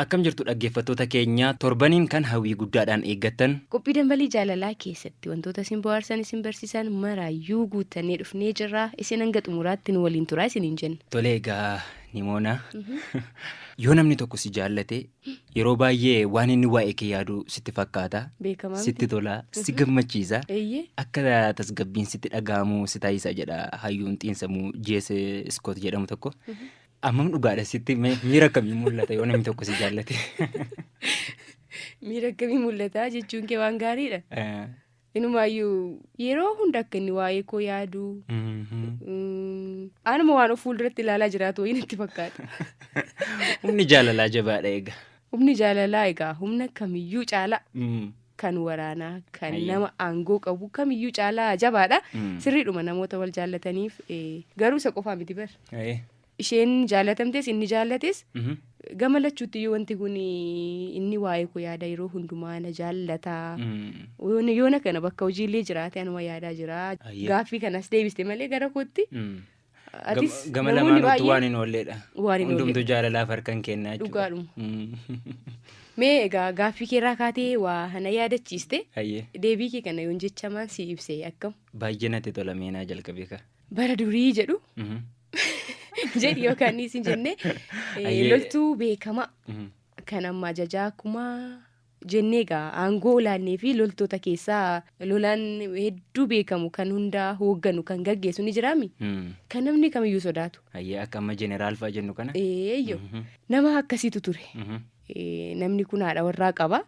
Akkam jirtu dhaggeeffattoota keenya torbaniin kan hawwii guddaadhaan eeggattan. Qophii Dambalii Jaalalaa keessatti wantoota isin bohaarsan, isin barsiisan maraayyuu guuttannee dhufnee jirra. Isin hanga xumuraatti nu waliin turaa isiniin jenna. Tole egaa Nimoona yoo namni tokko si jaallate yeroo baay'ee waan inni waa'ee kee yaadu sitti fakkaata. Beekamaa Sitti miti. tola, si gammachiisa. Eeyyee. Akka tasgabbiin sitti dhaga'amu si taasisa jedha hayyuun xiinsammuu J.S. Iskoot jedhamu tokko. Ammam dhugaadha sitti mee miira akkamii mul'ata yoo namni tokko si jaallate? Miira akkamii mul'ata jechuun kee waan gaariidha. Eh, Inumaayyuu yeroo hunda akka inni waa'ee koo yaadu mhm. mm, anuma waan of fuulduratti ilaalaa jiraatu wayii natti fakkaata. Humni jaalalaa jabaadha egaa. Humni jaalalaa egaa humna kamiyyuu caalaa. Mm. kan waraanaa kan Hayyee. nama aangoo qabu kamiyyuu caalaa jabaadha Mm. sirriidhuma namoota wal jaallataniif eh, garuu isa qofaa miti bar Hayyee. isheen jaallatamtes inni jaallates Mhm. gama lachuutti iyyuu wanti kun inni waa'ee koo yaada yeroo hundumaa na jaallataa Mm. Yoona- yoona kana bakka hojiillee jiraate anuma yaadaa jira Hayyee. gaaffii kanas deebiste malee gara kootti Mm. Atis Gama namoonni lamaanuu baay'een waan hin oolleedha. waan hin Hundumtuu oolleedha. jaalalaaf harkan kenna jechuudha. Dhugaadhuma. Mm. Mee egaa gaaffii kee irraa kaatee waa hana yaadachiiste Hayyee. deebii kee kana yoon jechamaan si ibsee akkam Baay'ee natti tola meenaa jalqabee ka. bara durii jedhu Mhm. jedhi yookaan isin jenne eh, Ayyee. loltuu beekamaa Mhm. kan amma ajajaa kumaa jennee egaa aangoo olaannee fi loltoota keessaa lolaan hedduu beekamu kan hundaa hoogganu kan gaggeessu ni jiraami kan namni kamiyyuu sodaatu. Ayyee akka amma jeneraal fa'a jennu kana. Eeyyo nama akkasiitu ture. Namni kun haadha warraa qaba.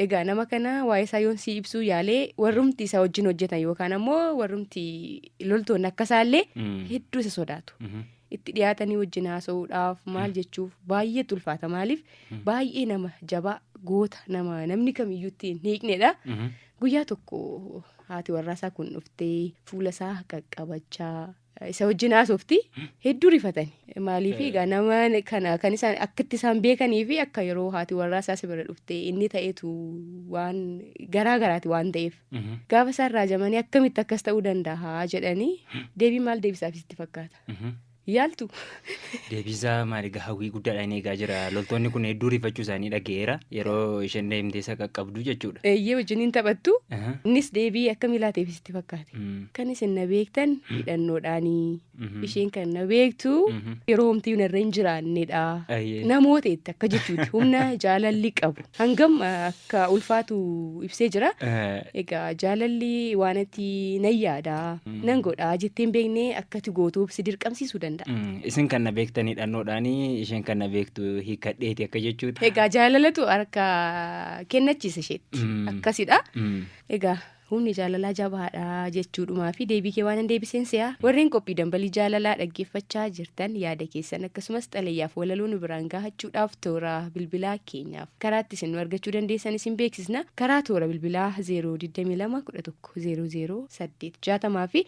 Egaa nama kana waa'ee isaa yoon sii ibsuu yaalee warrumti isa wajjin hojjetan yookaan ammoo warrumti loltoonni akka isaallee hedduu isa sodaatu. itti dhiyaatanii wajjin haasa'uudhaaf maal jechuuf baay'eetu ulfaata maaliif baay'ee nama jabaa goota nama namni kamiyyuu ittiin hiiknedha guyyaa tokko haati warraasaa kun dhuftee fuula isaa qaqqabachaa isa wajjin haasofti hedduu rifatani maaliif egaa nama kana kan isaan akka itti isaan beekanii fi akka yeroo haati warraasaa si bira dhuftee inni ta'etu waan garaa garaati waan ta'eef Gaafa isaan raajamanii akkamitti akkas ta'uu danda'a jedhanii deebii maal deebisaaf sitti fakkaata? Yaaltu. Deebisaa maali egaa hawwii guddaadhaan eegaa jira. Loltoonni kun hedduu rifachuu isaanii dhaga'eera. Yeroo isheen deemtee isa qaqqabdu jechuudha. Eeyyee wajjin hin taphattu. Aha. Innis deebii akkamii laateef sitti fakkaate? Mm. Kan isin na beektan hidhannoodhaanii. Mhm. Isheen kan na beektu Mhm. yeroo homtii narra hin jiraannedha. Ayyee. Namoota itti akka jechuuti humna jaalalli qabu. Hangam eh, akka ulfaatu ibsee jira. Eh, Egaa jaalalli waan ati nan yaada Mm. nan godha jettee hin beekne akkati gootuuf si dirqamsiisuu danda'a. mm, Isin kan na beektan hidhannoodhaani isheen kan na beektu hiikkadheeti akka jechuudha. Egaa jaalalatu harka kennachiisa isheetti Mm. akkasidha. Mm. Egaa Humni jaalalaa jabaadha jechuudhumaafi deebii kee waanan deebiseen se'a. Warreen qophii Dambalii Jaalalaa dhaggeeffachaa jirtan yaada keessan akkasumas xalayaaf walaloo nu biraan gaahachuudhaaf toora bilbilaa keenyaaf karaa itti isin nu argachuu dandeessan isin beeksisna. Karaa toora bilbilaa 022 11 00 8 60 fi.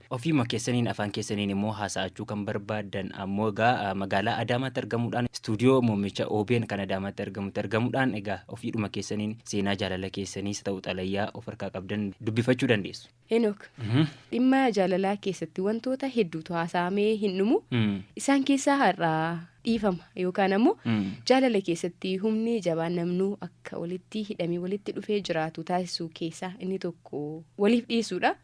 Ofiima keessaniin afaan keessaniin immoo haasa'achuu kan barbaaddan ammoo egaa magaalaa Adaamaatti argamuudhaan istuudiyoo muummicha OBN kan Adaamaatti argamutti argamuudhaan egaa ofiidhuma keessaniin seenaa jaalala keessaniis ta'u xalayaa of harkaa qabdan dubbifachuu dandeessu. Henook, dhimma jaalalaa keessatti wantoota hedduutu haasa'amee hin dhumu. Isaan keessaa har'a dhiifama yookaan ammoo jaalala keessatti humni jabaan namnuu akka walitti hidhamee walitti dhufee jiraatu taasisuu keessaa inni tokko. waliif dhiyeessuudha.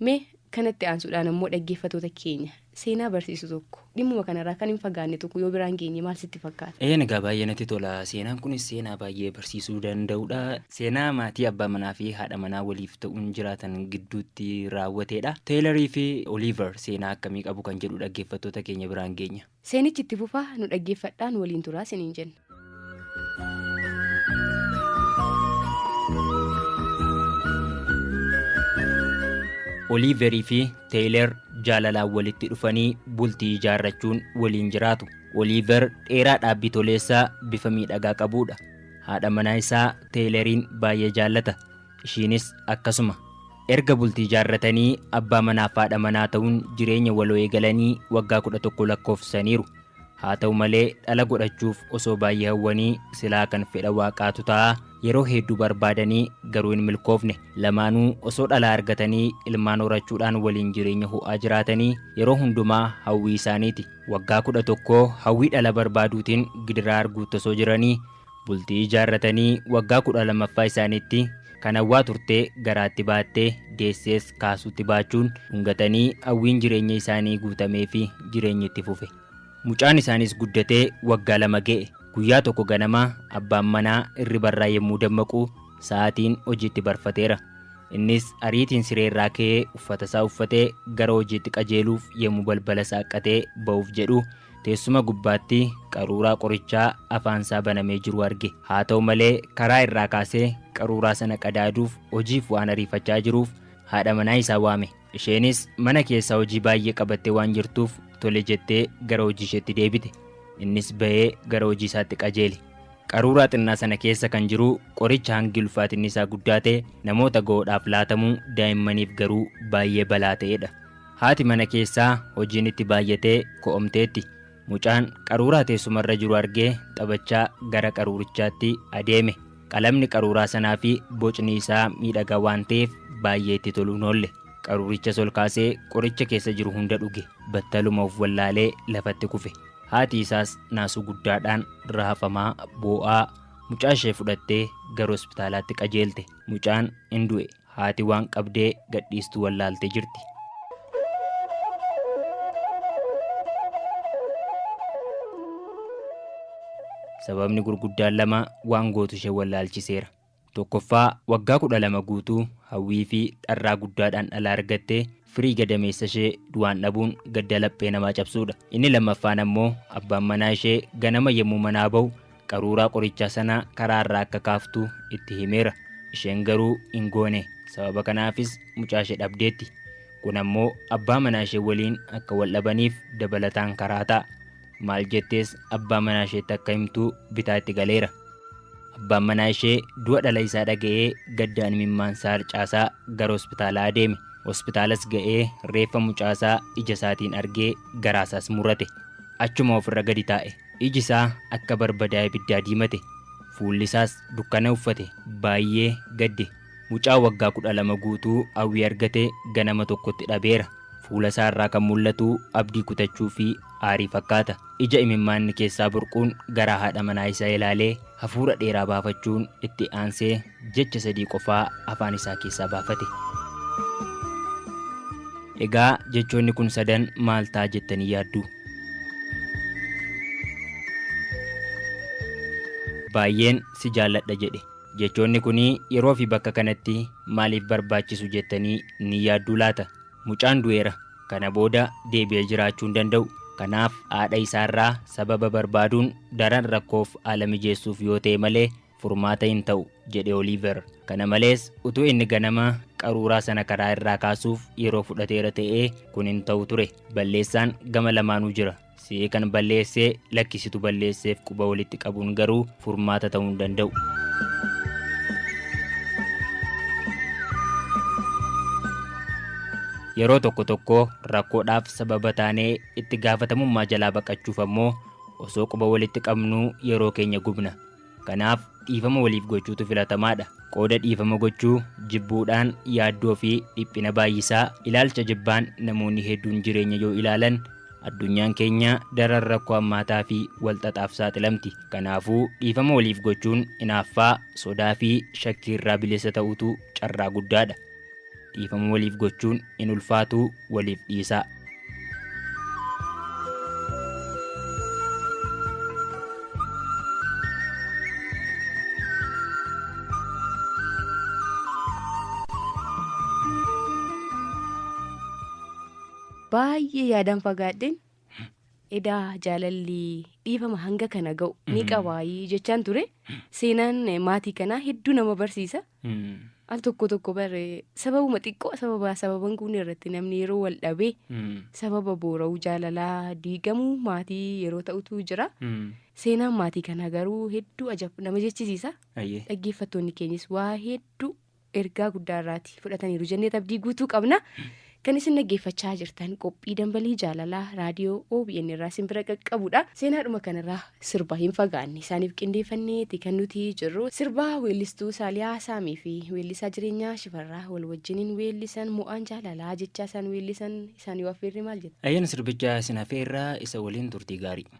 Mee kanatti aansuudhaan ammoo dhaggeeffatoota keenya seenaa barsiisu tokko dhimmuma kanarraa kan hin fagaanne tokko yoo biraan geenye maal sitti fakkaata? Eeyyeen egaa baay'ee natti tola. Seenaan kunis seenaa baay'ee barsiisuu danda'udha. Seenaa maatii abbaa manaa fi haadha manaa waliif ta'uun jiraatan gidduutti raawwateedha. Teeylarii fi Oliiver seenaa akkamii qabu kan jedhu dhaggeeffattoota keenya biraan geenya. Seenichi itti fufa nu dhaggeeffadhaa nu waliin turaa siniin jenna. Oliiverii fi Teeyler jaalalaan walitti dhufanii bultii ijaarrachuun waliin jiraatu. Oliiver dheeraa dhaabbii toleessaa bifa miidhagaa qabudha. Haadha manaa isaa Teeyleriin baay'ee jaallata. Ishiinis akkasuma. Erga bultii ijaarratanii abbaa manaaf haadha manaa ta'uun jireenya waloo eegalanii waggaa 11 lakkoofsisaniiru. Haa ta'u malee dhala godhachuuf osoo baay'ee hawwanii silaa kan fedha Waaqaatu ta'a yeroo heedduu barbaadanii garuu hin milkoofne. Lamaanuu osoo dhalaa argatanii ilmaan horachuudhaan waliin jireenya ho'aa jiraatanii yeroo hundumaa hawwii isaaniiti. Waggaa 11 hawwii dhala barbaaduutiin gidiraa arguutti osoo jiranii Bultii ijaarratanii waggaa kudha lammaffaa isaaniitti kan hawwaa turte garaatti baatte deessees kaasuutti baachuun dhungatanii hawwiin jireenya isaanii guutameefi jireenyi itti fufe. Mucaan isaaniis guddatee waggaa lama ga'e. Guyyaa tokko ganama abbaan manaa irribarraa yemmuu dammaqu sa'aatiin hojiitti barfateera. Innis ariitiin sireerraa ka'ee uffatasaa uffatee gara hojiitti qajeeluuf yemmuu balbala saaqqatee ba'uuf jedhu Teessuma gubbaatti qaruuraa qorichaa afaansaa banamee jiru arge. Haa ta'u malee karaa irraa kaasee qaruuraa sana qadaaduuf hojiif waan ariifachaa jiruuf haadha manaa isaa waame. Isheenis mana keessaa hojii baay'ee qabattee waan jirtuuf tole jettee gara hojii isheetti deebite. Innis ba'ee gara hojii isaatti qajeele. Qaruuraa xinnaa sana keessa kan jiru qoricha hangi ulfaatinni isaa guddaa ta'e namoota ga'oodhaaf laatamu daa'immaniif garuu baay'ee balaa ta'edha. Haati mana keessaa hojiin itti baay'atee ko'omteetti. Mucaan qaruuraa teessumarra jiru argee taphachaa gara qaruurichaatti adeeme. Qalamni qaruuraa sanaa fi bocni isaa miidhagaa waan ta'eef baay'ee itti toluu hin oolle. Qaruurichas ol kaasee qoricha keessa jiru hunda dhuge. Battaluma of wallaalee lafatti kufe. Haati isaas naasuu guddaadhaan raafamaa, boo'aa mucaa ishee fudhattee gara hospitaalaatti qajeelte. Mucaan in du'e. Haati waan qabdee gadhiistu wallaaltee jirti. Sababni gurguddaan lama waan gootu ishee wallaalchiseera. Tokkoffaa waggaa 12 guutuu hawwii fi dharraa guddaadhaan dhala argattee Firii gadameessa ishee du'aan dhabuun gadda laphee namaa cabsuudha. Inni lammaffaan ammoo abbaan manaa ishee ganama yommuu manaa ba'u qaruuraa qorichaa sana karaa irraa akka kaaftu itti himeera. Isheen garuu hin goone. Sababa kanaafis mucaa ishee dhabdeetti. Kun ammoo abbaa manaa ishee waliin akka wal dhabaniif dabalataan karaa ta'a. Maal jettees abbaa manaa isheetti akka himtu bitaa itti galeera. Abbaan manaa ishee du'a dhala isaa dhaga'ee gaddaan imimmaansaa harcaasaa gara hospitaalaa adeeme. Hospitaalas ga'ee reeffa mucaasaa ija isaatiin argee garaasaas murate. Achuma ofirra gadi taa'e. Iji isaa akka barbadaa ibiddaa diimate. Fuulli isaas dukkana uffate. Baay'ee gadde. Mucaa waggaa 12 guutuu hawwii argate ganama tokkotti dhabeera. Fuula isaa irraa kan mul'atu abdii kutachuu fi aarii fakkaata. Ija imimmaanni keessaa burquun garaa haadha manaa isaa ilaalee hafuura dheeraa baafachuun itti aansee jecha sadii qofaa afaan isaa keessaa baafate. Egaa jechoonni kun sadan maal ta'a jettanii yaaddu? Baay'een si jaalladha jedhe. Jechoonni kun yeroofi bakka kanatti maaliif barbaachisu jettanii ni yaadduu laata? Mucaan du'eera. Kana booda deebi'ee jiraachuu hin danda'u. Kanaaf haadha isaarraa sababa barbaaduun daran rakkoof haala mijeessuuf yoo ta'e malee furmaata hin ta'u, jedhe Oliiver. Kana malees, utuu inni ganama qaruuraa sana karaa irraa kaasuuf yeroo fudhateera ta'ee kun hin ta'u ture. Balleessaan gama lamaanuu jira. Si'ee kan balleessee lakkisitu balleesseef quba walitti qabuun garuu furmaata ta'uu hin danda'u. Yeroo tokko tokko rakkoodhaaf sababa taanee itti gaafatamummaa jalaa baqachuuf ammoo osoo quba walitti qabnuu yeroo keenya gubna. Kanaaf, dhiifama waliif gochuutu filatamaadha. Qooda dhiifama gochuu jibbuudhaan yaaddoo fi dhiphina baay'isaa, ilaalcha jibbaan namoonni hedduun jireenya yoo ilaalan, addunyaan keenya daran rakkoo hammaataa fi wal xaxaaf saaxilamti. Kanaafuu, dhiifama waliif gochuun inaaffaa, sodaa fi shakkii irraa bilisa ta'uutu carraa guddaadha. Dhiifama waliif gochuun hin ulfaatuu waliif dhiisaa. Baay'ee yaadan fagaadheen Edaa jaalalli dhiifama hanga kana ga'u ni qabaayii jechaan ture. Seenaan maatii kanaa hedduu nama barsiisa. Al tokko tokko bare sababuma xiqqoo sababa sababan kun irratti namni yeroo wal dhabee sababa boora'uu jaalalaa diigamuu maatii yeroo ta'utu jira. Seenaan maatii kanaa garuu hedduu ajab nama jechisiisa. Dhaggeeffattoonni keenyis waa hedduu ergaa guddaa irraati fudhataniiru jenneet abdii guutuu qabna. Kan isin dhaggeeffachaa jirtan qophii dambalii jaalalaa raadiyoo OBN irraa isin bira qaqqabudha. Seenaadhuma kanarraa sirba hin fagaanne isaaniif qindeeffanneeti kan nuti jirru. Sirba weellistuu Saaliyaa Saamii fi weellisaa jireenyaa Shifarraa wal wajjiniin weellisan mo'aan jaalalaa jechaa isaan weellisan isaan yoo affeerre maal jettu? Ayyaana sirbicha isin affeerraa isa waliin turtii gaarii.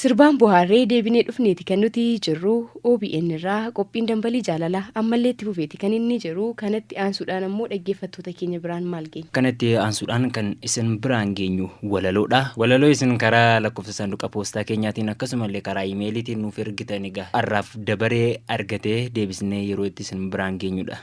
Sirbaan bohaarree deebinee dhufneeti kan nuti jirru OBN irraa qophiin dambalii jaalala ammallee itti fufeeti kan inni jiru kanatti aansuudhaan ammoo dhaggeeffattoota keenya biraan maal geenya. Kanatti aansuudhaan kan isin biraan geenyu walaloodha. Walaloo isin karaa lakkoofsa saanduqa poostaa keenyaatiin akkasumallee karaa imeeliitiin nuuf ergitan egaa har'aaf dabaree argatee deebisnee yeroo itti isin biraan geenyudha.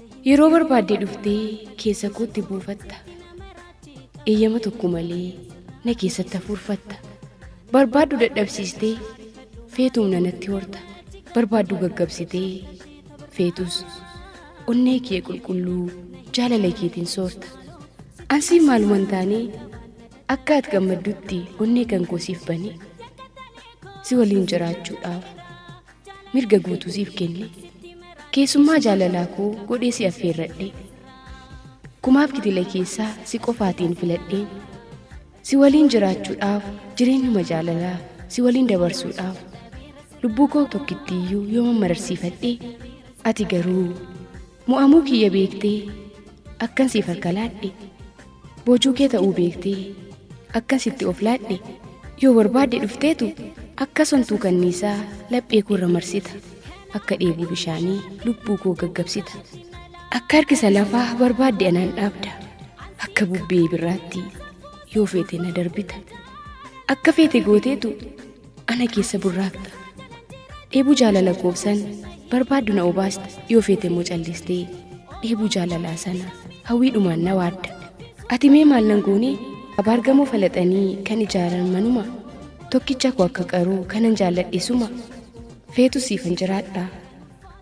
Yeroo barbaadde dhuftee keessa kootti buufatta. Eeyyama tokko malee na keessatti hafuurfatta. Barbaaddu dadhabsiistee feetuum nanatti horta. Barbaaddu gaggabsitee feetus onnee kee qulqulluu jaalala keetiin soorta. Ansii maaluma hin taane akka ati gammaddutti onnee kan koo siif bane si waliin jiraachuudhaaf mirga guutuu siif kenne keessummaa jaalalaa koo godhee si affeerradhe kumaaf kitila keessaa si qofaatiin filadheen si waliin jiraachuudhaaf jireenyuma jaalalaa si waliin dabarsuudhaaf lubbuu koo tokkittiiyyuu yoo mammararsiifadhe ati garuu Mo'amuu kiyya beektee akkan siif harka laadhe boojuu kee ta'uu beektee akkan sitti of laadhe yoo barbaadde dhufteetu akka sontuu kanniisaa laphee koo irra marsita akka dheebuu bishaanii lubbuu koo gaggabsita akka harkisa lafaa barbaadde anaan dhaabda akka bubbee birraatti yoo feete na darbita akka feete gooteetu ana keessa burraaqxa dheebuu jaalala koobsan barbaaddu na obaasta yoo feete immoo callistee dheebuu jaalalaa sana hawwiidhumaan na waadda ati mee maal nan goone abaargamoo falaxanii kan ijaaran manuma tokkicha koo akka qaruu kanan jaalladhe suma feetu siifan jiraadha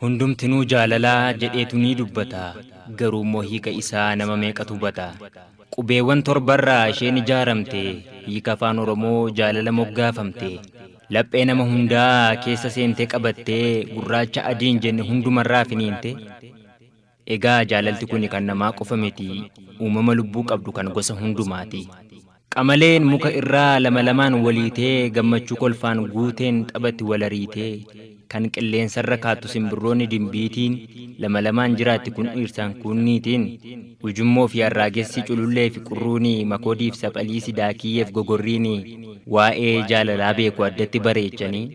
Hundumtinuu jaalala jedheetu ni dubbata, garuu immoo hiika isaa nama meeqatu hubata? Qubeewwan torbarraa isheen ijaaramte, hiika afaan Oromoo jaalala moggaafamte. Laphee nama hundaa keessa seentee qabattee, gurraacha adii hin jenne hundumarraa finiinte. Egaa jaalalti kuni kan namaa qofa miti, uumama lubbuu qabdu kan gosa hundumaati. Qamaleen muka irraa lama lamaan waliitee gammachuu kolfaan guuteen taphatti wal ariitee, kan qilleensarra kaattu simbirroonni dimbiitiin lama lamaan jiraatti kun dhiirsaan kuun niitiin, ujummoo fi arraagessi, culullee fi qurruuni, makoodii fi saphaliisi, daakiyyee fi gogorriini waa'ee jaalalaa beeku addatti bareechanii.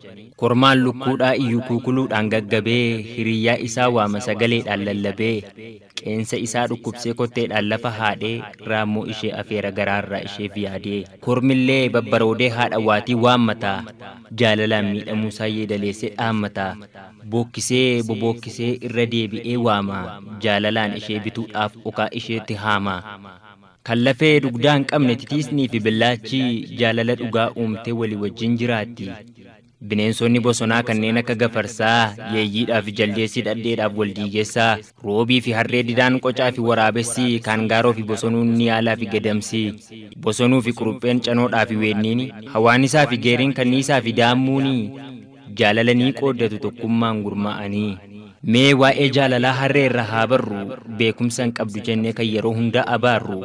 Kormaan lukkuudhaa iyyu kuukuluudhaan gaggabee hiriyyaa isaa waama sagaleedhaan lallabee qeensa isaa dhukkubsee kotteedhaan lafa haadhee raammoo ishee afeera garaarraa isheef yaadee kormillee babbaroodee haadha waatii waammataa jaalalaan miidhamuusaa yeedaleessee dhaammataa bookkisee bobookkisee irra deebi'ee waamaa jaalalaan ishee bituudhaaf okaa isheetti haamaa. Kan lafee dugdaa hin qabne titiisnii fi billaachi jaalala dhugaa uumtee walii wajjin jiraatti. Bineensonni bosonaa kanneen akka gafarsaa, yeeyyiidhaa fi jaldeessi dhadheedhaaf wal diigessa, roobii fi harree didaan qocaa fi waraabessi, kaangaaroo fi bosonuun niyaalaa fi gadamsi, bosonuu fi qurupheen canoodhaa fi weenniini, hawaanisaa fi geeriin kanniisaa fi daammuuni, Jaalala ni qooddatu tokkummaan gurmaa'anii. Mee waa'ee jaalalaa harree irraa haa barru Beekumsa hin qabdu jennee kan yeroo hundaa abaarru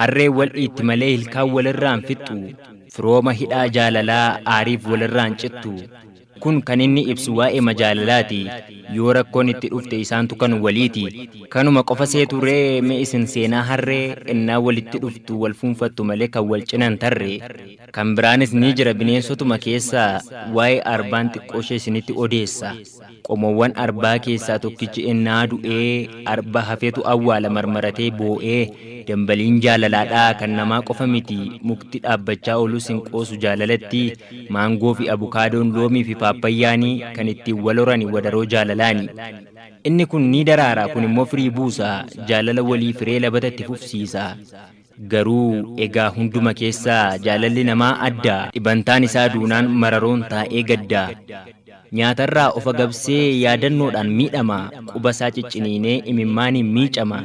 Harreen wal dhiitti malee ilkaan wal irraa hin fixxu Firooma hidhaa jaalalaa aariif wal irraa hin cittu Kun kan inni ibsu waa'eema jaalalaati Yoo rakkoon itti dhufte isaantu kan waliiti Kanuma qofa seetu ree mee isin seenaa harree Ennaa walitti dhuftu wal fuunfattu malee kan wal cina hin tarre Kan biraanis ni jira bineensotuma keessaa waa'ee arbaan xiqqooshee isinitti odeessa. Qomoowwan arbaa keessaa tokkichi ennaa du'ee arba hafetu awwaala marmaratee boo'ee dambaliin jaalalaadha kan namaa qofa miti mukti dhaabbachaa oolus hin qoosu jaalalatti maangoo fi abukaadoon loomii fi paappayyaani kan ittiin wal horani wadaroo jaalalaani. Inni kun ni daraara kun immoo firii buusa jaalala walii firee labata itti fufsiisa. Garuu egaa hunduma keessa jaalalli namaa adda. Dhibantaan isaa duunaan mararoon taa'ee gadda. Nyaatarraa of agabsee yaadannoodhaan miidhama, qubasaa cicciniinee imimmaaniin miicama.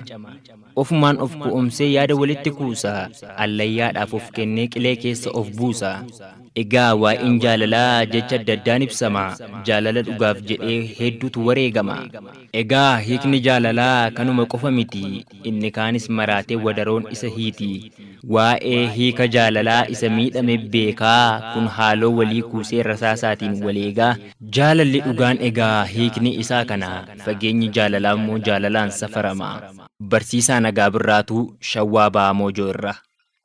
Ofumaan of ku'umsee yaada walitti kuusa, allayyaadhaaf of kennee qilee keessa of buusa. Egaa waa'een jaalalaa jecha adda addaan ibsama, jaalala dhugaaf jedhee hedduutu wareegama. Egaa hiikni jaalalaa kanuma qofa miti, inni kaanis maraatee wadaroon isa hiiti. Waa'ee hiika jaalalaa isa miidhame beekaa, kun haaloo walii kuusee rasaasaatiin wal eegaa. Jaalalli dhugaan egaa hiikni isaa kana, fageenyi jaalalaa immoo jaalalaan safarama. Barsiisaa Nagaa Birraatuu, Shawwaa Bahaa Moojoo irraa.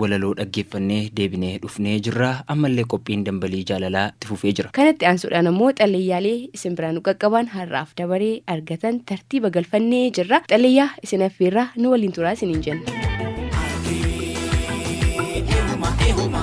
walaloo dhaggeeffannee deebinee dhufnee jirra ammallee qophiin dambalii jaalalaa itti fufee jira. Kanatti aansuudhaan ammoo xalleeyyaalee isin biraa nu qaqqabaan har'aaf dabaree argatan tartiiba galfannee jirra. Xalleeyyaa isin affeerraa nu waliin turaa isiniin jenna. Ihuma ihuma.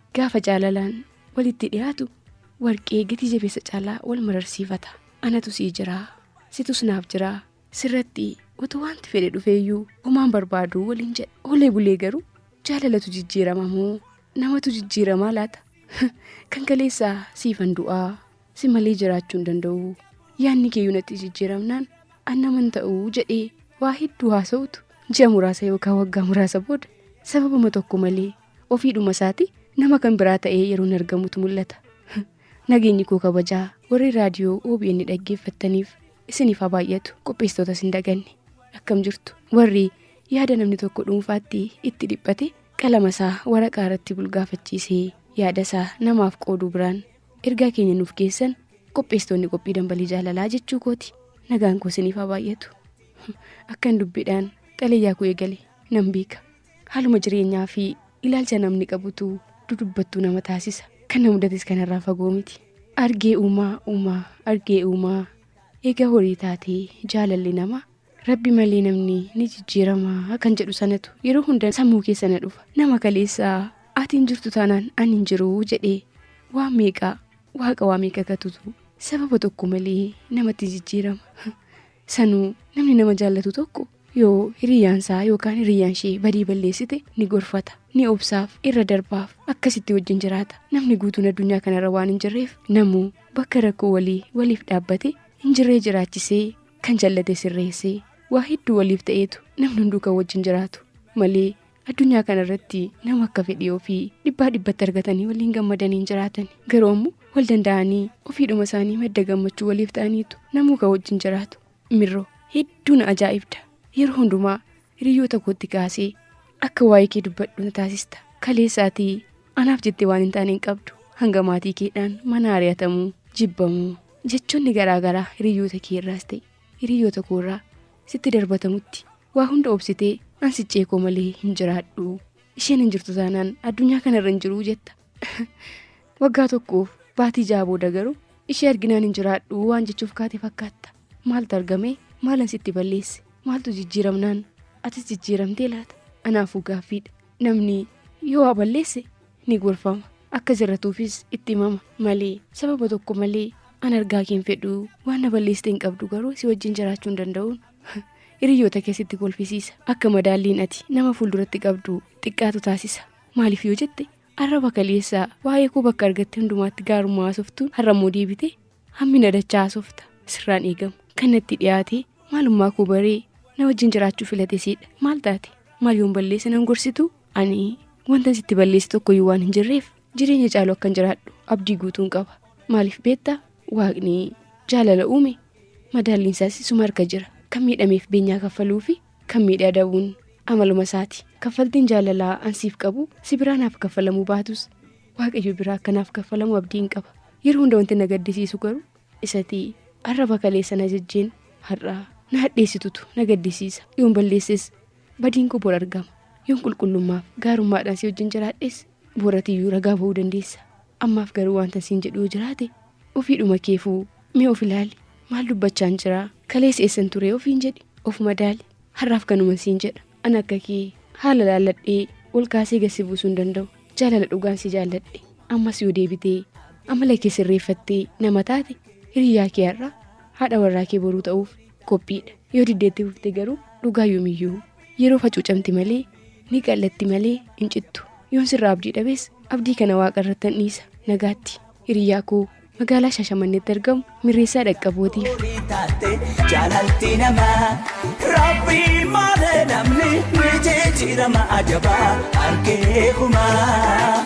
Gaafa jaalalaan walitti dhiyaatu warqee gati jabeessa caalaa wal mararsiifata. Anatu sii jiraa, situs naaf jiraa, sirratti utuu wanti fedhe dhufeeyyuu homaan barbaaduu waliin jedha. Oolee bulee garuu jaalalatu jijjiirama moo namatu jijjiiramaa laata? Kan kaleessaa siifan du'aa si malee jiraachuu hin danda'u. Yaanni keeyyuu natti jijjiiramnaan an naman ta'uu jedhee waa hedduu haasa'utu ji'a muraasa yookaan waggaa muraasa booda sababuma tokko malee ofii dhuma isaati nama kan biraa ta'ee yeroon argamutu mul'ata. Nageenyi koo kabajaa warri raadiyoo OBN dhaggeeffattaniif isiniif haa baay'atu qopheessitootas hin daganne akkam jirtu warri yaada namni tokko dhuunfaatti itti dhiphate qalama isaa waraqaa irratti bulgaafachiisee yaada isaa namaaf qooduu biraan ergaa keenya nuuf geessan qopheessitoonni qophii dambalii jaalalaa jechuu kooti nagaan koo isiniif haa baay'atu akkan dubbiidhaan xalayaa koo eegale nan beeka. haaluma jireenyaa fi ilaalcha namni qabutu dudubbattuu nama taasisa kan na mudates kanarraa fagoo miti argee uumaa uumaa argee uumaa eega horii taatee jaalalli nama rabbi malee namni ni jijjiiramaa kan jedhu sanatu yeroo hunda sammuu keessa na dhufa nama kaleessaa ati hin jirtu taanaan ani hin jiru jedhee waa meeqaa waaqa waa meeqa katutu sababa tokko malee namatti jijjiirama Sanuu namni nama jaallatu tokko yoo hiriyyaan isaa yookaan hiriyyaan ishee badii balleessite ni gorfata ni obsaaf irra darbaaf akkasitti wajjin jiraata namni guutuun addunyaa kanarra waan hin jirreef namuu bakka rakkoo walii waliif dhaabbate hin jirree jiraachisee kan jallate sirreessee waa hedduu waliif ta'eetu namni hunduu kan wajjin jiraatu malee Addunyaa kana irratti nama akka fedhii ofii dhibbaa dhibbatti argatanii waliin gammadanii hin jiraatan. Garuu ammoo wal danda'anii ofiidhuma isaanii madda gammachuu waliif ta'aniitu namuu ka wajjin jiraatu. Mirroo hedduu na ajaa'ibda. Yeroo hundumaa hiriyoota kootti kaasee akka waa'ee kee dubbadhu na taasista. Kaleessaatii anaaf jettee waan hin taane hin qabdu. Hanga maatii keedhaan mana ari'atamuu, jibbamuu, jechoonni garaa garaa hiriyoota kee irraas ta'e hiriyoota koo irraa sitti darbatamutti Waa hunda obsitee an siccee koo malee hin jiraadhu. Isheen hin jirtu taanaan addunyaa kanarra hin jiruu jetta. Waggaa tokkoof baatii ja'a booda garuu ishee arginaan hin jiraadhu waan jechuuf kaate fakkaatta. Maaltu argame? Maalan sitti balleesse? Maaltu jijjiiramnaan? Atis jijjiiramtee laata? Anaafuu gaaffiidha. Namni yoo waa balleesse ni gorfama. Akka jirratuufis itti himama malee sababa tokko malee an argaa kee hin fedhu waan na balleessite hin qabdu garuu si wajjin jiraachuu hin danda'uun Hiriyoota kee sitti kolfisiisa. Akka madaalliin ati nama fuulduratti qabdu xiqqaatu taasisa. Maaliif yoo jette arraba kaleessaa waa'ee koo bakka argatte hundumaatti gaarummaa haasoftuun har'a immoo deebite hammina dachaa haasofta. Sirraan eegamu. Kan natti dhiyaate maalummaa koo baree na wajjin jiraachuu filate siidha. Maal taate? Maal yoon balleesse nan gorsitu? Ani wantan sitti balleesse tokkoyyuu waan hin jirreef jireenya caalu akkan jiraadhu abdii guutuun qaba. Maaliif beektaa? Waaqni jaalala uume madaalliin isaas isuma harka jira. Kan miidhameef beenyaa kaffaluu fi kan miidhe adabuun amaluma isaati. Kaffaltiin jaalalaa an siif qabu si biraa naaf kaffalamuu baatus waaqayyo biraa akka naaf kaffalamu abdiin qaba. Yeroo hunda wanti na gaddisiisu garuu isati arraba kaleessa na jajjeen har'a na hadheessitutu na gaddisiisa. Yoon balleesses badiin koo bor argama. Yoon qulqullummaaf gaarummaadhaan si wajjin jiraadhes boratiyyuu ragaa ba'uu dandeessa. Ammaaf garuu waantan siin jedhu yoo jiraate ofiidhuma keefuu mee of ilaali. Maal dubbachaan jira? Kaleessa eessan ture ofiin jedhi. Of madaali. Har'aaf kanuman siin jedha. An akka kee haala laalladhee ol kaasee gad si buusuu hin danda'u. Jaalala dhugaan si jaalladhe. Ammas yoo deebitee amala kee sirreeffattee nama taate hiriyyaa kee har'aa, haadha warraa kee boruu ta'uuf qophiidha. Yoo diddee itti fufte garuu dhugaa yoomiyyuu yeroo facuucamti malee ni qal'atti malee hin cittu. Yoon sirraa abdii dhabes abdii kana waaqa irratti nan dhiisa. Nagaatti hiriyaa koo magaalaa Shaashamanneetti argamu mirreessaa dhaqqabootiif. horii taate jaalalti namaa rabbii malee namni ni jijjiirama ajabaa harkee kumaa.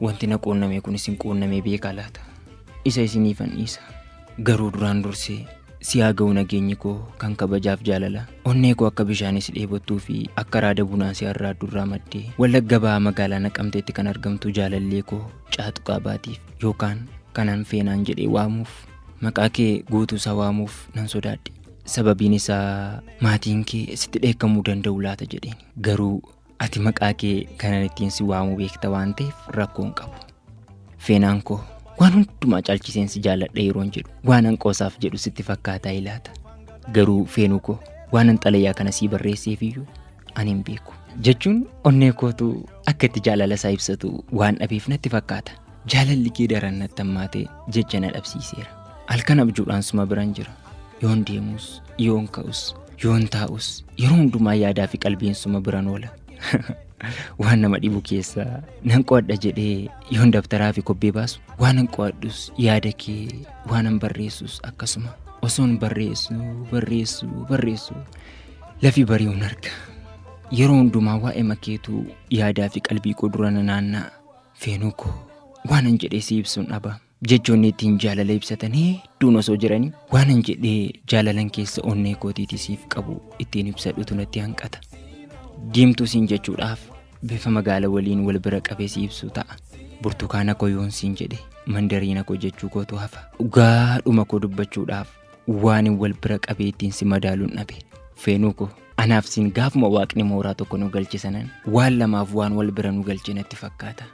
Wanti na quunname kun isin quunnamee beekaa laata? Isa isiniifan dhiisa. Garuu duraan dursee si haa ga'u nageenyi koo kan kabajaaf jaalala. Onnee koo akka bishaanis dheebottuu fi akka raada bunaa si arraaddu irraa maddee Wallagga Bahaa magaalaa Naqamteetti kan argamtu jaalallee koo Caatuqaa Baatiif yookaan kanan Feenaan jedhee waamuuf maqaa kee guutuu isaa waamuuf nan sodaadhe. Sababiin isaa maatiin kee sitti dheekkamuu danda'u laata jedheen. Garuu Ati maqaa kee kanan ittiin si waamuu beekta waan ta'eef rakkoo hin qabu. Feenaan koo waan hundumaa caalchiseen si jaalladha yeroon jedhu waanan qoosaaf jedhu sitti fakkaataa ilaata. Garuu feenuu koo waanan xalayaa kana sii barreesseef iyyuu ani hin beeku. Jechuun onnee kootu akka itti jaalala isaa ibsatu waan dhabeef natti fakkaata. Jaalalli kee daran natti hammaatee jecha na dhabsiiseera. Halkan abjuudhaan suma biran jira. Yoon deemus, yoon ka'us Yoon taa'us yeroo hundumaa yaadaa fi qalbiin suma biran oola. waan nama dhibu keessa nan qo'adha jedhee yoon dabtaraa fi kobbee baasu waan nan qo'adhus yaada kee waan nan barreessus akkasuma osoon barreessu barreessu barreessu lafi bari'uun arga. Yeroo hundumaa waa'ee makeetu yaadaa fi qalbii koo dura na naanna'a. Feenuu koo waanan jedhee si ibsuun dhaba. Jechoonni ittiin jaalala ibsatan hedduun osoo jiranii waanan jedhee jaalalan keessa onnee kootiiti siif qabu ittiin ibsadhutu natti hanqata. Diimtuu siin jechuudhaaf bifa magaala waliin wal bira qabee si ibsu ta'a. Burtukaana koo yoon siin jedhe mandariina koo jechuu kootu hafa. Dhugaa dhuma koo dubbachuudhaaf waanin wal bira qabee ittiin si madaaluun dhabe. Feenuu koo anaaf siin gaafuma waaqni mooraa tokko nu galche sanan waan lamaaf waan wal bira nu galche natti fakkaata.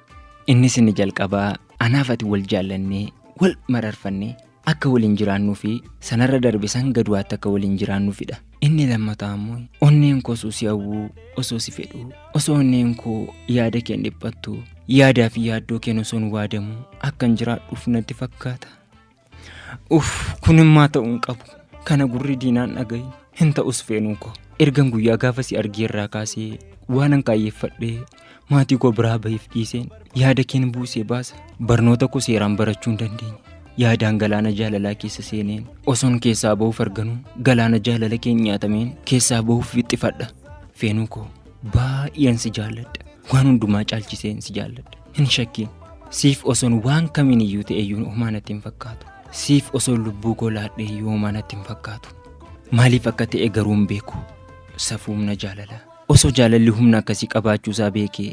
Innis inni jalqabaa Anaaf ati wal jaallannee, wal mararfannee akka waliin jiraannuu fi sanarra darbe san gaduwaatti akka waliin jiraannuufidha. Inni lammataa ammoo onneen koo osoo si hawwuu, osoo si fedhuu, osoo onneen koo yaada keen dhiphattu, yaadaa fi yaaddoo keen osoon waadamuu akkan jiraadhuuf natti fakkaata. Uff kunimmaa ta'uu hin qabu. Kana gurri diinaan dhagahi hin ta'us feenuu koo. Ergan guyyaa gaafa si argee irraa kaasee waanan kaayyeffadhee maatii koo biraa bahiif dhiiseen yaada keen buusee baasa. Barnoota koo seeraan barachuu hin dandeenye. Yaadaan galaana jaalalaa keessa seeneen osoon keessaa bahuuf arganuu galaana jaalala keen nyaatameen keessaa bahuuf wixxifadha. Feenuu koo baay'een si jaalladha. Waan hundumaa caalchiseen si jaalladha. Hin shakkiin. Siif osoon waan kamiin iyyuu ta'e iyyuu homaa natti hin fakkaatu. Siif osoon lubbuu koo laadhe iyyuu homaa natti hin fakkaatu. Maaliif akka ta'e garuu hin beeku. Safuu humna jaalalaa. Osoo jaalalli humna akkasii qabaachuu isaa beekee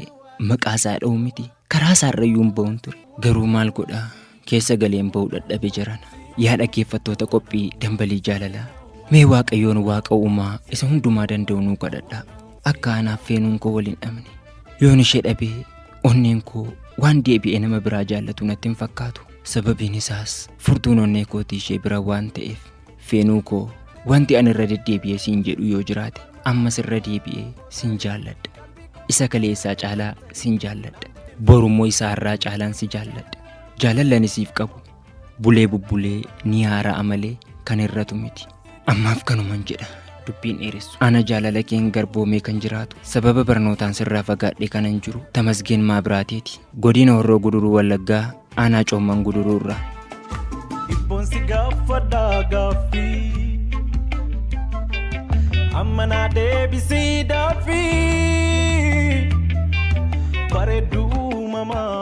maqaa isaa dha'u miti. Karaa isaa irra iyyuu hin ba'uun ture. Garuu maal godhaa? keessa galeen ba'u dhadhabe jarana. Yaa dhaggeeffattoota qophii dambalii jaalalaa. Mee waaqayyoon waaqa uumaa isa hundumaa danda'u nuu kadhadhaa. Akka anaaf feenuun koo waliin dhabne. Yoon ishee dhabee onneen koo waan deebi'ee nama biraa jaallatu natti hin fakkaatu. Sababiin isaas furtuun onnee kootii ishee bira waan ta'eef. Feenuu koo wanti ani irra deddeebi'ee siin jedhu yoo jiraate ammas irra deebi'ee siin jaalladha. Isa kaleessaa caalaa siin jaalladha. Borummoo isaa irraa caalaan si jaalladha. Jaalalli ani siif qabu bulee bubbulee ni haara'a malee kan hir'atu miti. Ammaaf kanuman jedha dubbiin dheeressu. Ana jaalala keen garboomee kan jiraatu sababa barnootaan sirraa fagaadhee kanan jiru Tamasgeen Maabiraateeti. Godina Horroo Guduruu Wallaggaa aanaa Coomman Guduruu irraa. Dhibboon si gaafadhaa gaaffii amma naa deebisii daaffii bareedduu mamaa.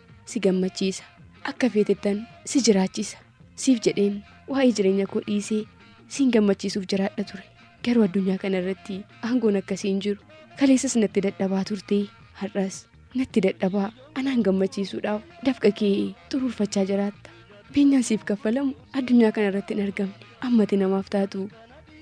si gammachiisa. Akka feetettan si jiraachisa. Siif jedheen waa'ee jireenya koo dhiisee siin gammachiisuuf jiraadha ture. Garuu addunyaa kana irratti aangoon akkasii hin jiru. Kaleessas natti dadhabaa turte, har'as natti dadhabaa. Anaan gammachiisuudhaaf dafqa kee xuruurfachaa jiraatta. Beenyaan siif kaffalamu addunyaa kana irratti hin argamne. Ammati namaaf taatu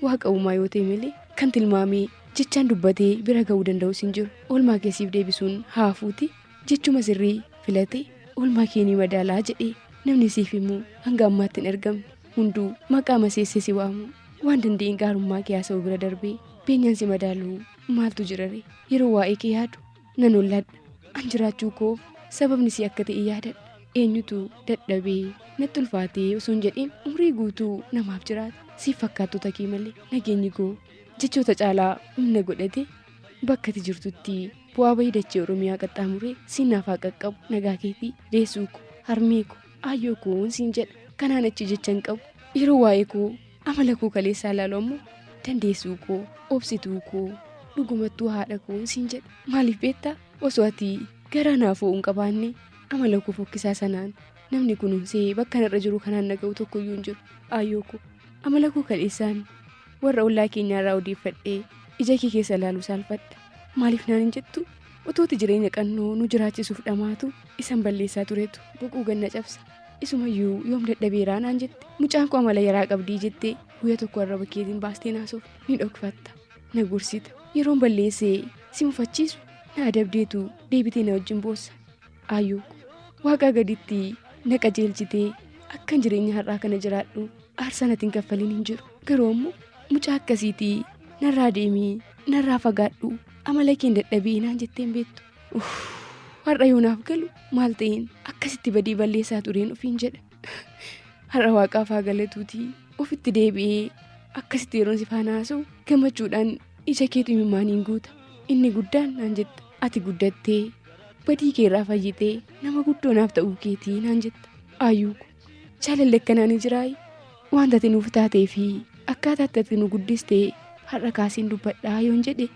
waaqa uumaa yoo ta'e malee kan tilmaamee jechaan dubbatee bira ga'uu danda'us hin jiru. Oolmaa kee siif deebisuun haafuuti Jechuma sirrii filate oolmaa kee ni madaalaa jedhee namni siif himu hanga ammaatti hin argamne hunduu maqaa maseessee si waamu waan danda'een gaarummaa kee haasa'uu bira darbee beenyaan si madaalu maaltu jirare yeroo waa'ee kee yaadu nan olladha an jiraachuu koof sababni si akka ta'e yaadadha eenyutu dadhabee natti ulfaatee osoo hin jedhiin umrii guutuu namaaf jiraata siif fakkaattota kee malee nageenyi koo jechoota caalaa humna godhate Bakka ati jirtutti bu'aa bahii dachee Oromiyaa qaxxaamuree siin naaf haa qaqqabu nagaa keetii deessuu ko harmee ko aayyoo koon siin jedha kanaan achi jecha hin qabu yeroo waa'ee koo amala koo kaleessaa ilaalu ammoo dandeessuu koo obsituu koo dhugumattuu haadha koon siin jedha maaliif beektaa osoo ati garaa naaf ho'u hin qabaanne amala koo fokkisaa sanaan namni kunuunsee bakka narra jiru kanaan naga'u tokkoyyuu hin jiru aayyoo koo amala koo kaleessaan warra ollaa keenyaa irraa odeeffadhee ija kee keessa ilaaluu saalfadha maaliif naan hin jettu utuuti jireenya qannoo nu jiraachisuuf dhamaatu isan balleessaa turetu boquu ganna cabsa isumayyuu yoom dadhabeeraa naan jette mucaan koo amala yaraa qabdii jettee guyya tokko arraba keetiin baastee naasuuf ni dhokfatta na gorsita yeroon balleessee si mufachiisu na adabdeetu deebitee na wajjin boossa Ayu waaqaa gaditti na qajeelchitee akkan jireenya har'aa kana jiraadhu aarsaa natiin kaffaliin hin jiru garuu ammoo mucaa akkasiitii narraa deemii narraa fagaadhu amala keen dadhabee naan jetteen beektu uff har'a yoo naaf galu maal ta'een akkasitti badii balleessaa tureen ofiin jedha Har'a waaqaaf haa galatuutii ofitti deebi'ee akkasitti yeroon si faana haasa'u gammachuudhaan ija keetu imimmaaniin guuta. Inni guddaan naan jetta ati guddattee badii kee irraa fayyitee nama guddoo naaf ta'uu keetii naan jetta. Ayyuu ko jaalalli akkanaa ni jiraayi waan ati nuuf taatee fi akkaataa itti ati nu guddistee har'a kaasiin dubbadhaa yoon jedhe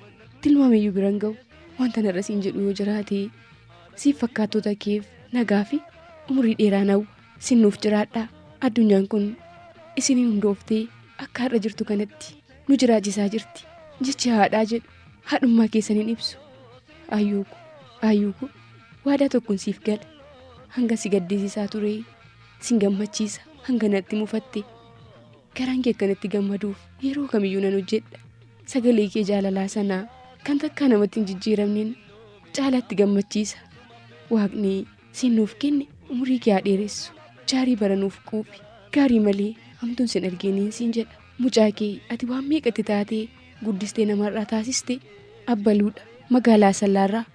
tilmaamiyyuu biran ga'u wanta narra siin jedhu yoo jiraate siif fakkaattota keef nagaa fi umurii dheeraan hawwa sin nuuf jiraadhaa addunyaan kun isiniin hundooftee akka har'a jirtu kanatti nu jiraachisaa jirti jechi haadhaa jedhu haadhummaa keessaniin ibsu ayyuuku ayyuuku waadaa tokkon siif gala hanga si gaddisiisaa turee sin gammachiisa hanga natti mufatte Garaan kee akkanatti gammaduuf yeroo kamiyyuu nan hojjedha. Sagalee kee jaalalaa sana kan takkaa namatti hin jijjiiramneen caalaatti gammachiisa. Waaqni siin nuuf kenne umurii kee haa dheeressu. Jaarii bara nuuf quufi. Gaarii malee hamtuun sin argeeniin siin jedha. Mucaa kee ati waan meeqatti taatee guddistee namarraa taasiste abbaluudha. Magaalaa Asallaarraa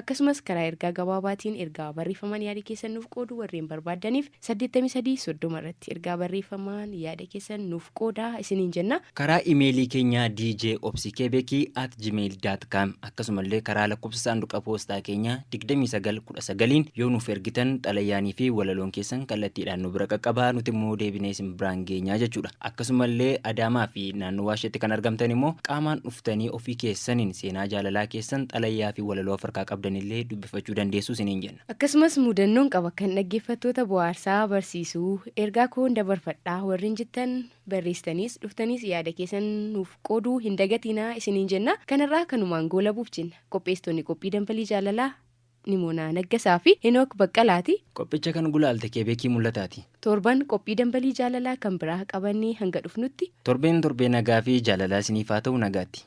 Akkasumas karaa ergaa gabaabaatiin ergaa barreeffamaan yaada keessan nuuf qooduu warreen barbaaddaniif 83 30 irratti ergaa barreeffamaan yaada keessan nuuf qoodaa isiniin jenna. Karaa imeelii keenyaa djobsikebeki at gmail dot com akkasumallee karaa lakkoofsa saanduqa poostaa keenyaa 29 19n yoo nuuf ergitan xalayaanii fi walaloon keessan kallattiidhaan nu bira qaqqaba nuti immoo deebinee isin biraan geenyaa jechuudha. Akkasumallee Adaamaa fi naannowaa isheetti kan argamtan immoo qaamaan dhuftanii ofii keessaniin seenaa jaalalaa keessan xalayaa fi walaloo of harkaa qabdan illee dubbifachuu dandeessu isiniin jenna. Akkasumas mudannoon qaba kan dhaggeeffattoota bohaarsa, barsiisu, ergaa koon dabarfadha warreen jettan barreessitaniis dhuftaniis yaada keessan nuuf qooduu hin dagatiinaa isiniin jenna. Kan har'aa kanumaan goolabuuf jenna. Qopheessitoonni qophii Danbalii Jaalalaa. Nimoonaa Naggasaa fi Henook Baqqalaati. Qophicha kan gulaalte Keebeekii Mul'ataati. Torban qophii Dambalii Jaalalaa kan biraa qabannee hanga dhufnutti. Torbeen torbee nagaa fi jaalalaa isiniif haa ta'u nagaatti.